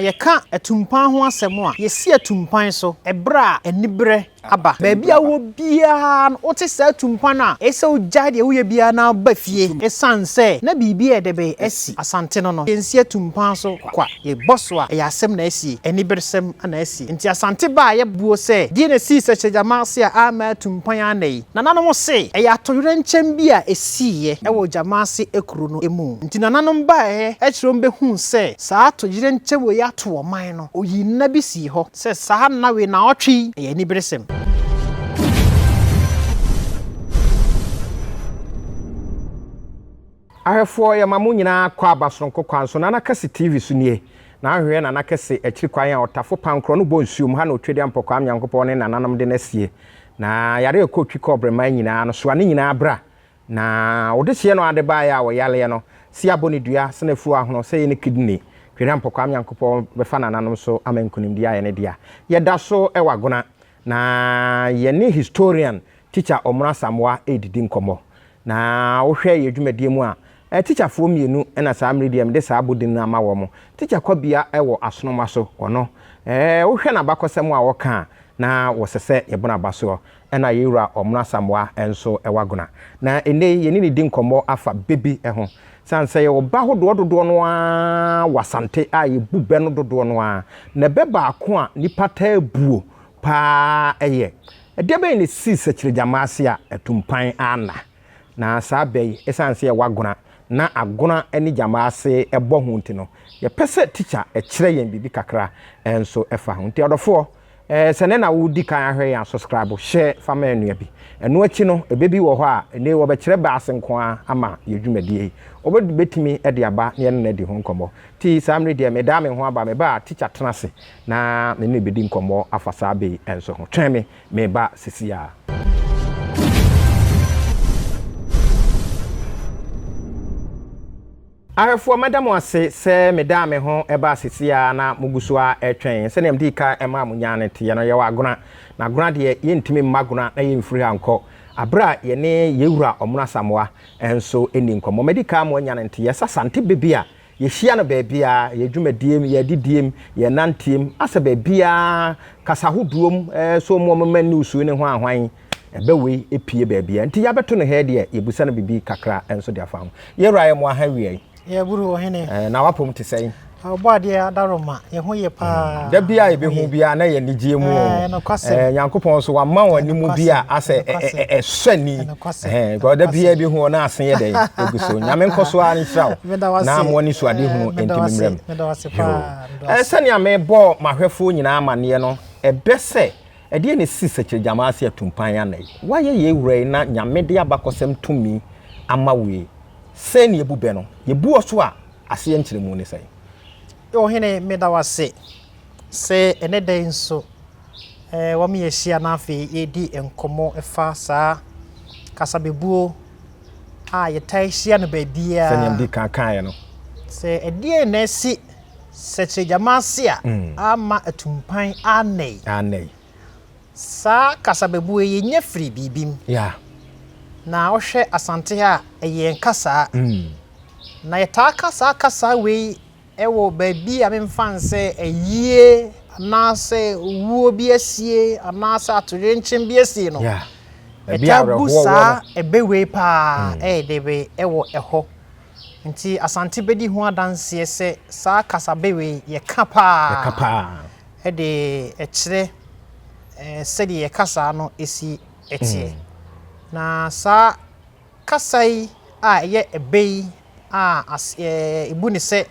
Yɛka atumpan ho asɛm a, yɛsi atumpan so berɛ a aniberɛ aba. Baabi a wowɔ biara no, wote saa atumpan a, eye sɛ wogyae deɛ woyɛ biara na woba fie. Ɛsiane sɛ na biribi reyɛ dɛ bɛn asi Asante no no, yɛnsi atumpan so kwa. Yɛbɔ so a, ɛyɛ asɛm na asie, aniberesɛm na asie. Enti Asante baa yɛ boɔ sɛ, deɛ na ɛsii Sɛkyɛgyama ase a amma atumpan annɛ yi? Nananom se, ɛyɛ atoyerɛnkyɛm bi a ɛsiiɛ wɔ Gyama ase kuro no mu. Enti nananom baeɛ kyerɛ wɔn bɛhuu sɛ, Saa atoyerɛ nkyɛ wei ato ɔman no, ɔyii nna bi sii hɔ sɛ saa nna wei naawɔtwe yi yɛ aniberesɛm. Ahwɛfoɔ yɛma mo nyinaa kɔ aba soronko kwan so Nana Kɛse TV so nie na ahwehwɛ Nana Kɛse akyiri kwan a ɔtafo pankorɔ no bɔ nsuo mu ha na ɔtwadeɛ mpɔkwaa Nyankopɔn ne nananom de no asie na yare a ɛkɔ twi kɔɔbre man nyinaa no soa ne nyinaa bra Na wɔde hyeɛ no ade baeɛ a ɔyareɛ no se abɔ ne dua sene afuo ahono sɛ ɛyɛ ne kidney. Twere ampɔkwaa Nyankopɔn bɛfa nananom so ama nkunimdie ayɛ ne dea. Yɛda so wɔ Agona na yɛne historian Teacher Ɔmoro Asamoah redidi nkɔmmɔ. Na wohwɛ yɛn dwumadie mu a, Teacher foɔ mmienu na saa mmere deɛ mede saa abodin no ama wɔn. Teacher Kwabia wɔ Asonomaso, ɔno wohwɛ n'abakɔsɛm a ɔka a na wɔsɛ sɛ yɛbɔ n'abasoɔ. Ɛna yɛn Wura Ɔmena Asamoah nso wɔ Agona. Na ɛnnɛ yi yɛne no di nkɔmmɔ afa bɛ bi ho. Sane sɛ yɛwɔ bɛ ahodoɔ dodoɔ no ara wɔ Asante a yɛbu bɛ no dodoɔ no ara. Na bɛ baako a nnipa taa buo pa ara yɛ, Ɛdeɛ bɛn na ɛsii Sakyirigyammaa ase a atumpan anna? Na saa bɛ yi, ɛsiane sɛ yɛwɔ Agona na Agona ne Gyammaa ase bɔ ho nti no, yɛpɛ sɛ tikya kyerɛ yɛn biribi kakra nso fa ho. Nti adɔfoɔ, Eh sɛ nɛ na wo di kan ahwɛ yɛn a suscribe hyɛ fa ma ɛnua bi ɛno akyi no ɛbɛ bi wɔ hɔ a ɛnɛ yi wɔbɛ kyerɛ bass nko ara ama yɛ dwumadie yi wɔbɛ bɛ tumi de aba na yɛne no adi ho nkɔmmɔ ti saa mmere deɛ me daa me ho aba me ba a teacher tena ase na me ne bɛdi nkɔmmɔ afa saa bɛ yi nso ho twɛn me me ba sisi a. Ahwɛfoɔ, mɛda mo ase sɛ medaa me ho baa seesei ara na mogu so ara retwɛn. Sɛdeɛ medii kan maa mo nyaa no teeɛ no, yɛwɔ agona, na agona deɛ, yɛntumi mma agona na yɛmfiri ha nkɔ berɛ a yɛne yɛn wura Ɔmono Asamoah nso nni nkɔmmɔ. Madi kan ama wɔanya no nteeɛ sɛ Asante bɛ bi a yɛhyia no baabiara, yɛn dwumadie mu, yɛn adidie mu, yɛn nanteɛ mu, asɛ baabiara, kasa ahodoɔ mu, sɛ wɔn a wɔma news yi ne ho ahwan, Ɛbɛ wei ɛpie baabiaa nti yabɛto no hɛɛ deɛ yɛbusa no bibi kakra nso de afa ho. Yɛwura yɛ moa ha awia yi. Yɛ buru ɔhene. Ɛɛ na wapom te sɛn? Ɔbɔadeɛ Adaroma yɛ ho yɛ paa. Mm da biaa yɛbɛ hu biaa na yɛ anigyeɛ mu oo. Ɛɛ nokwasɛm. Ɛɛ Nyankopɔn nso wama wo animu bi a asɛ ɛsɔ ani. Ɛɛ because da biaa yɛbɛ hu o na ase yɛ dɛn ɛgu so. Nyame nkɔ so ara nhyira wo na ama w'aniso ade hunu ɛntimi mmra mu. Yoo ɛɛ sɛnea mebɔɔ m'ahwɛfoɔ nyinaa amaneɛ no ɛbɛ sɛ Ɛdeɛn na ɛsisi Sɛkyerɛgyama ase atumpan anɛ yi? Woayɛ yei wura yi na Nyame de abakɔsɛm tumi ama wo yi, sɛn na yɛbu bɛ no? Yɛbu wo so a, aseɛ nkyerɛmu ne sɛn? Ɔhene, meda wo ase sɛ ɛnnɛ da yi nso wɔama yɛahyia na afei yɛredi nkɔmmɔ fa saa kasabebuo a yɛtaa hyia no baabiara. Sɛdeɛ mede kan kaeɛ no. Sɛ ɛdeɛn na ɛsi Sɛkyerɛ gyama ase a amma atumpan annɛe. Annɛe. Saa kasabebuee yi nyɛ firi biribi mu. Yeah. Na wohwɛ Asante ha a, ɛyɛ yɛn kasaa. Na yɛtaa ka saa kasaa wei wɔ baabi a memfa no sɛ ayie anaasɛ owuo bi asie anaasɛ atoyerɛnkyɛm bi asie no. Yeah. Baabi a Yɛtaa bu awerɛhoɔ wɔ saa no. ɛbɛ wei paa ɛyɛ dɛ wɔ ɛhɔ. Nti Asante bɛdi ho adanseɛ sɛ saa kasabe wei yɛ ka paa Yɛ ka paa. de kyerɛ sɛdeɛ yɛ kasaa no si teɛ. Na saa kasa yi a ɛyɛ ɛbɛ yi a yɛbu no sɛ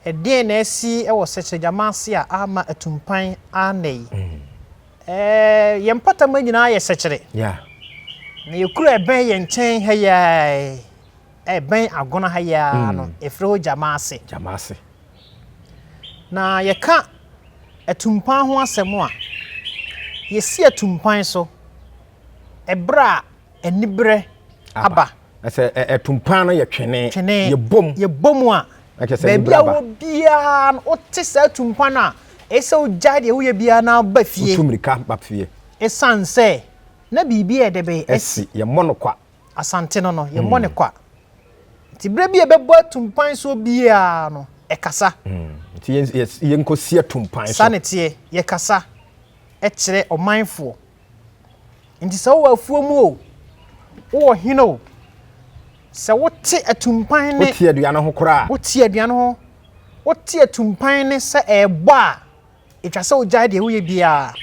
ɛdeɛn na asi wɔ Sɛkyerɛgyama ase a ama atu mpan ara nnɛ yi? Yɛn mpɔtam nyinaa yɛ sɛkyerɛ. Na yɛkura ɛbɛ yɛn nkyɛn ha yi ara. ɛbɛn Agona ha yi ara no, yɛfrɛ hɔ Gyamaase. Gyamaase. Na yɛka atumpan ho asɛm a, yɛsi atumpan so ɛberɛ a aniberɛ aba. Ɛsɛ atumpan no yɛ twene, twene yɛbom. Yɛbom a, baabi a wɔ biara no, wote saa atumpan a, ɛsɛ wogyae deɛ woyɛ biara na ba fie. Wotu mmirika ba fie. Ɛsiane sɛ na biribi a ɛde bɛyɛ asi. Yɛmmɔ no kwa. Asante no no, yɛmmɔ no kwa. Nti berɛ bi a ɛbɛbɔ atumpan so biara no, ɛkasa. Nti yɛnkɔsi atumpan so. Saa ne teɛ, yɛkasa kyerɛ ɔmanfoɔ. Nti sɛ wowɔ afuo mu o, wowɔ hene o, sɛ wote atumpan ne... Wote aduane ho koraa. Wote aduane ho. Wote atumpan ne sɛ ɛrebɔ a, ɛtwa sɛ wogyae deɛ woyɛ biara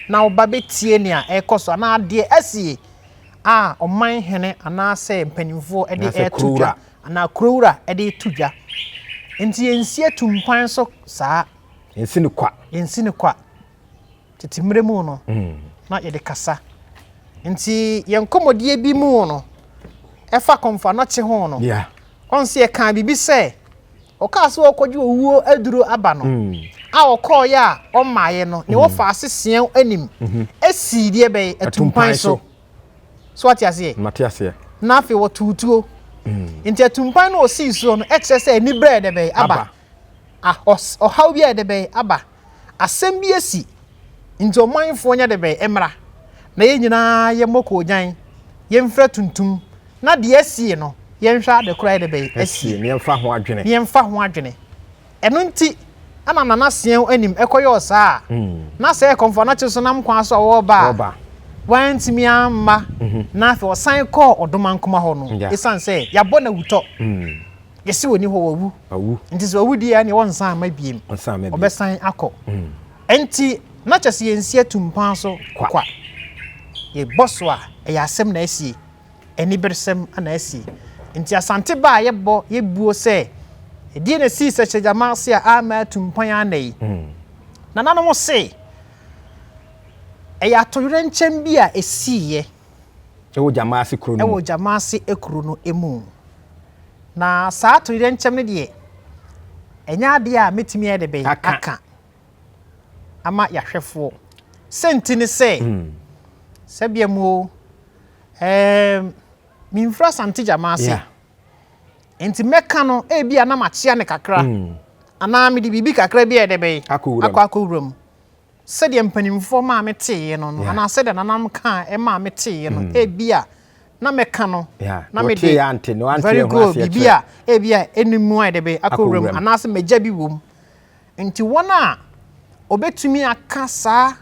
na woba bɛtie nea ɛrekɔ so anaa deɛ asie a ɔman hene anaasɛ mpanimfoɔ de reto dwa anaa kurowura de reto dwa nti yɛnsi atumpan so saa yɛnsi no kwa yɛnsi no kwa tete mmerɛ mu no mm. na yɛde kasa nti yɛn nkɔmmɔdie bi mu no ɛfa kɔmfa nɔkye ho no ɔn sɛ yɛkaa biribi sɛ Ɔkaa sɛ ɔɔkɔgye owuo aduro aba no, a ɔkɔɔeɛ a ɔmmaeɛ no, nea ɔfaa seseɛo anim sii deɛ bɛn? Atumpan so. So wate aseɛ? Mate aseɛ. Na afei ɔtoo tuo. Nti atumpan no a ɔsii soɔ no kyerɛ sɛ aniberɛ ayɛ dɛ bɛn? Aba. Ah, ɔhaw bi ayɛ dɛ bɛn? Aba. Asɛm bi asi, nti ɔmanfoɔ nyɛ debɛn mmra, na yɛn nyinaa yɛmmɔ koogyan, yɛmfira tuntum, na deɛ asie no, yɛnhwɛ ade korɔ ayɛ debɛn asie, na yɛmfa ho adwene. Yɛmfa ho adwene. Ɛno nti na Nana Seau anim kɔyɔɔ saa, na sɛ ɛyɛ Kɔmfoanakye so nam kwan so a wɔreba a, wantumi amma, na afei ɔsan kɔɔ Ɔdomankoma hɔ no, ɛsiane sɛ yɛabɔ no awutɔ. Yɛse ɔni hɔ wawu. Wawu. Nti sɛ ɔwu deɛ ɛneɛ ɔnsan ama biem. Ɔnsan ama biem. Ɔbɛsan akɔ. Mm. Nti na kyɛ sɛ yɛnsi atumpan so kwa. kwa. Yɛbɔ so a ɛyɛ asɛm na asie. Aniberesɛm na asie. Nti asante baa yɛbɔ yɛbuo sɛ ɛdeɛ na sii sɛ hyɛgyama ase a ama atumpan anɛ yi. Mm. Nananom se ɛyɛ atoyerɛnkyɛm bi a ɛsiiɛ. Wɔ Gyamaase kuro no mu. Wɔ Gyamaase kuro no mu. Na saa atoyerɛnkyɛm no deɛ, ɛnyɛ adeɛ a mɛtumi ayɛ de bɛn aka ama yɛahwɛfoɔ. Sɛnti ne sɛ, hmm. sɛbea mu o, ɛɛm, memfiri Asante Gyamaase. Yeah. Nti mɛka no, ebi a na makyea ne kakra. Mm. Anaa mede biribi kakra bi a ɛde bɛn akɔ akɔwura mu. Sɛdeɛ mpanimfoɔ maa me teeɛ no no, anaa sɛdeɛ nananom kaa maa me teeɛ no, ebia na mɛka no na mede very good biribi a ebia ɛnni mu ayɛ dɛ bɛ akɔ wura mu anaasɛ magya bi wɔ mu. Nti wɔn a wɔbɛtumi aka saa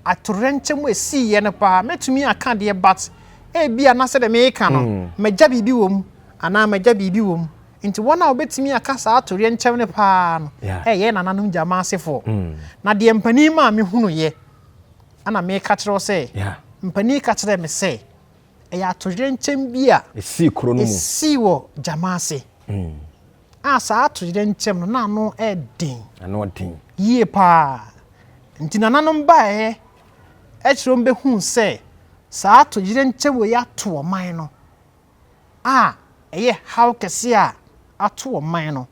atoyerɛnkyɛm a ɛsiiɛ no paa mɛtumi aka deɛ but ebia na sɛdeɛ mereka no magya biribi wɔ mu anaa magya biribi wɔ mu. Enti wɔn a wɔbɛtumi aka saa toyerɛnkyɛm no pa ara no yɛ yɛn nananom gyama asefoɔ. Na deɛ mpanin maa mehunuiɛ, ɛna mereka kyerɛ wo sɛ, mpanin ka kyerɛɛ me sɛ, ɛyɛ atoyerɛnkyɛm bi a ɛsii wɔ gyama ase, a saa atoyerɛnkyɛm no, na ano yɛ den yie pa ara. Enti nananom baeɛ kyerɛ wɔn bɛhuu sɛ saa atoyerɛnkyɛm wei ato ɔman no. a ɛyɛ haw kɛse a ato ɔman no,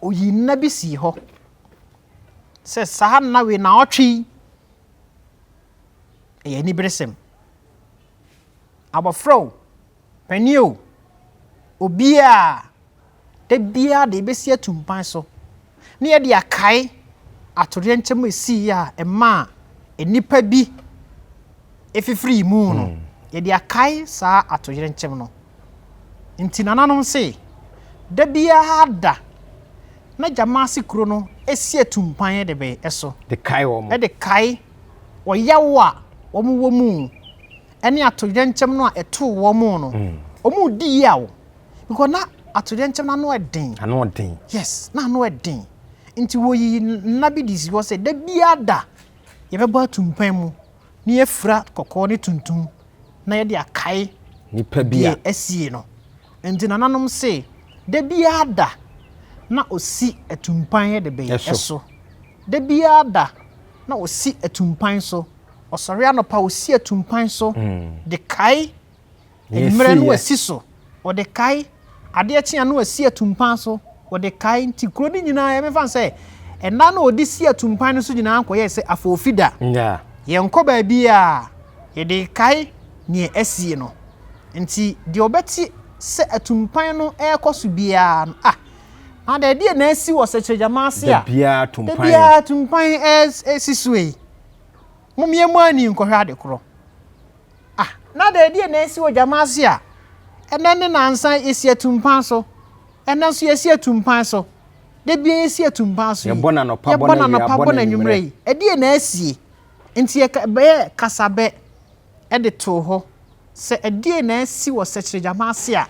oyii nna bi sii hɔ sɛ saa nna wei naawɔtwe yi ɛyɛ aniberesɛm. Abɔfra o, panin o, obiara. da biara de yɛbɛsi atu mpan so na yɛde akae atoyerɛnkyɛm a ɛsiiɛ a ɛmaa nnipa bi fifirii mu no, hmm. yɛde akae saa atoyerɛnkyɛm no. Nti nananom se, da biara da na Gyamaase kuro no si atu mpan de bɛn ɛso. De kae wɔn. Ɛde kae ɔyawo a wɔn wɔ mu ɛne atoyerɛnkyɛm no a ɛtoo wɔn no. Hmm. Wɔn di yaw because na atoyerɛnkyɛm no ano yɛ den. Ano yɛ den. Yes, na ano yɛ den. Nti wɔyi nna bi de si hɔ sɛ da biara da yɛbɛbɔ atumpan mu na yɛafira kɔkɔɔ ne tuntum na yɛde akae nipa bi a asie no. Nti nananom se da biara da na ɔsi atumpan yɛ de bɛyɛ ɛso. Da biara da na ɔsi atumpan so. Ɔsɔre anɔpa ɔsi atumpan so hmm. de kae Mmerɛ no asi so, wɔde kae, adeɛ kye a na wɔasi atumpan so, wɔde kae, nti kuro no nyinaa yɛ mɛfa no sɛ nna na wɔde si atumpan no so nyinaa kɔyɛɛ sɛ afɔɔfida, yɛnkɔ baabiara yɛde kae neɛ asie no, nti deɛ ɔbɛte sɛ atumpan no ɛɛkɔ so biara no ah Maada ɛdeɛ na asi wɔ Sɛkyerɛgyama ase a dabiara atumpan ɛɛsi so ei, mom yɛmmɔ ani nkɔhwɛ adekorɔ. Ah, na dɛn, deɛ na ɛsi odwaman ase a ɛnɛ ne nansa yɛsi atumpan so, ɛnɛ nso yɛsi atumpan so, da bia yɛsi atumpan so yi, yɛbɔ n'anɔpa bɔ n'anɔpa bɔ n'anwummerɛ yi, ɛdeɛ na asie? Nti yɛbɛyɛ kasabɛ de too hɔ sɛ ɛdeɛ na asi wɔ sɛkyerɛdwaman ase a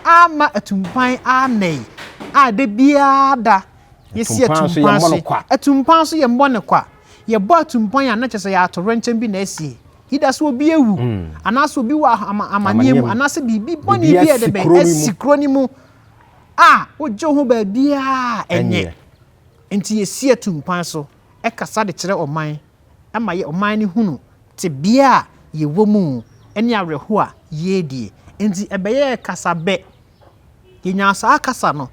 amma atumpan annɛ yi a da biara da yɛsi atumpan so yi, atumpan so yɛmmɔ no kwa, yɛbɔ atumpan a na kyerɛ sɛ yɛatorenkyɛm bi na asie. Either sɛ obi awu, anaasɛ obi wɔ amanneɛ mu, anaasɛ biribi bɔne bi a ɛde bɛn asi kuro no mu a wogye ho baabiara ɛnyɛ. Nti yɛsi atu mpan so kasa de kyerɛ ɔman ma yɛ ɔman no hunu tebea a yɛwɔ mu ne awerɛhoɔ a yɛredie. Nti ɛbɛyɛɛ kasa bɛ. Yɛnyaa saa kasa no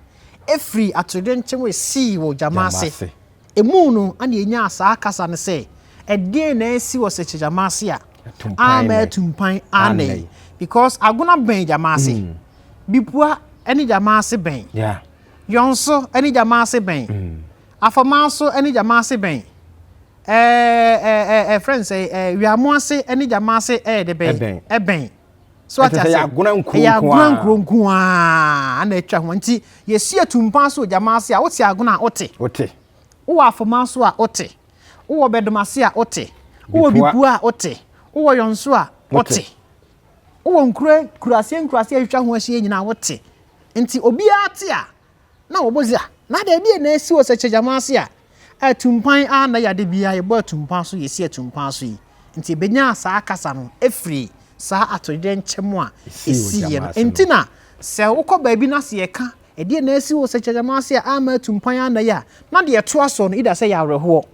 firi atoyerɛnkyɛm a ɛsii wɔ gyama ase. Emu no na yenyaa saa kasa no sɛ, Ɛdeɛn na asi wɔ sɛ kyɛ gyama ase a ama atu mpan anɛ yi? Because agona bɛn gyama ase? Mm. Bipua ne gyama ase bɛn? Yeah. Yɔnso ne gyama ase bɛn? Mm. Afɔmanso ne gyama ase bɛn? Ɛɛ ɛɛ ɛɛ friends ɛɛ wiamo ase ne gyama ase ɛyɛ de bɛn? Ɛbɛn. so ate ase agona nkuro ɛyɛ agona nkuro nko ara na atwa ho nti yɛsi atumpan so gyama ase a wote agona a wote wote wowɔ afoma so a wote wowɔ bɛdom ase a wote wowɔ bipu a wote wowɔ yɔnso a wote wowɔ nkuro nkuraseɛ nkuraseɛ atwa ho ahyia nyinaa wote nti obiara te a na wɔbɔ dze a, na adɛ ebia na esi wɔ sɛ kyɛ gyama ase a, atumpan a na yɛ ade biara yɛbɔ atumpan so yɛsi atumpan so yi nti ebenyaa saa kasa no efiri saa atoyerɛ nkyɛmu a esi yɛ no nti na sɛ wokɔ baabi na sɛ yɛka ɛdeɛ na esi wɔ sɛ kyɛ gyama ase a ama atumpan a na yɛ a na deɛ ɛtoa soɔ no ida sɛ yɛ awerɛhoɔ.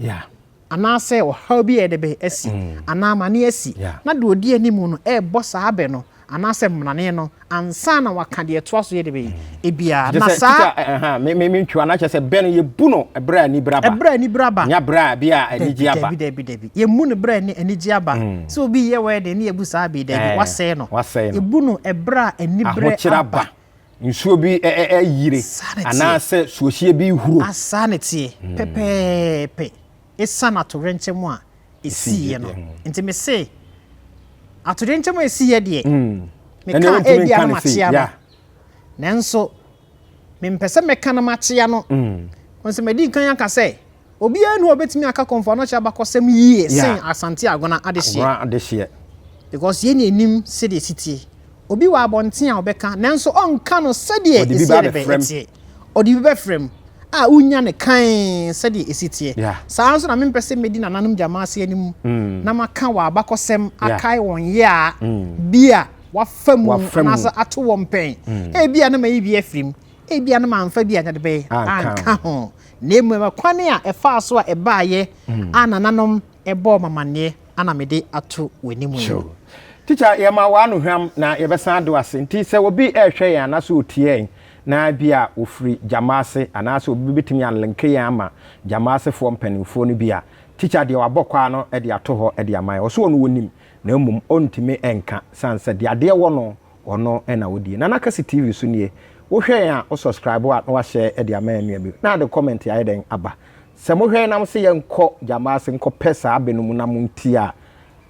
anaasɛ ɔhaw bi a ɛde bɛ asi anaa amane asi, na deɛ ɔdi anim no rebɔ saa bɛ no anaasɛ mmrane no ansa na waka deɛ ɛtoa so yɛ de bɛ yi mm. bia na saa mentwewa no akyɛ sɛ bɛ no yɛbu no ɛberɛ a anibere aba ɛberɛ a anibere aba nya berɛ a bia anigye aba dabi dabi dabi yɛmu no berɛ a anigye aba mm. sɛ obi yɛ wɛde ne yɛbu saa bee dabi wasɛe no yɛbu no ɛberɛ a anibere aba nsuo bi yire anaasɛ suohyeɛ bi huro. Saa na ɛteɛ hmm. pɛpɛɛpɛ ɛsiane atoyerɛnkyɛm a ɛsiiɛ no hmm. nti me se atoyerɛnkyɛm a ɛsiiɛ deɛ hmm. meka ɛbi ano makyea no nanso mempɛ sɛ meka no makyea no nso madi nkan aka sɛ Obiara nni hɔ a obetumi aka Komfo Anokye abakɔsɛm yie sen Asante Agona adehyeɛ. Agona adehyeɛ. Because yɛn na yɛnim sɛdeɛ ɛsi tie. Obi wɔ abɔnten a ɔbɛka nanso ɔnka no sɛdeɛ ɛsɛ ne bɛn ɛteɛ. Ɔde bi bɛfrɛ mu a wonya no kann sɛdeɛ ɛsi teɛ. Saa ara nso na mempɛ sɛ mɛdi nananom gyama ase anim na maka wɔn abakɔsɛm akae wɔn yea bi a wɔafa mu anaasɛ ato wɔn pɛn. Ebia na mayi bi afiri mu, ebia no mamfa bi a na de bɛyɛ anka ho na mmom ɛkwan a ɛfaa so a ɛbaayɛ mm. a nananom ɛbɔɔ mamanneɛ ana mede ato w'anim yi tikya yɛma w'ano hwam na yɛbɛsan do ase nti sɛ obi ɛrehwɛ yɛn anaasɛ otiɛn na bi a ofiri gyama ase anaasɛ obi betumi anlenke yɛn ama gyama asefoɔ mpanimfoɔ no bi a tikya deɛ wabɔ kwaa no de ato hɔ de ama yɛn ɔso ɔno wɔnim na mmom ɔntumi nka san sɛ deɛ adeɛ wɔ no Ɔno na wodie. Nana Kasi TV so nie. Wo hwɛ yɛn a wo subscribe a na wa share de ama yɛn nua bi. Na de comment ayɛ dɛn aba. Sɛ mo hwɛ yɛn na mo se yɛn nkɔ Gyambaase nkɔ pɛ saa bɛ no mu na mo ntie a,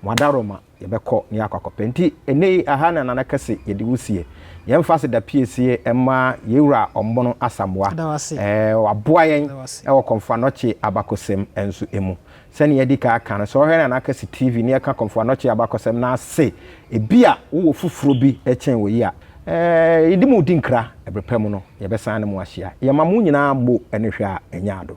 mo adaroma. Yɛ bɛ kɔ na yɛ akɔ akɔ pɛ. Nti ɛnɛ yi ɛha na Nana Kasi yɛ de wo sie. Yɛn nfa se da piesie ɛma yɛn wura Ɔmbono Asamoah. Ɛɛ wa boa yɛn ɛwɔ Kɔmfoa Nɔkye abakɔsɛm nso ɛmu. Sɛnea yɛadi kan aka no, sɛ ɔhwɛ na n'aka si TV na yɛka Komfo Anokye abakɔsɛm no ase ebia wowɔ foforo bi kyɛn wei a, yɛde mo redi nkra. Bere pa mu no, yɛbɛsan ne mo ahyia. Yɛma mo nyinaa bo ne hwɛ a anya ado.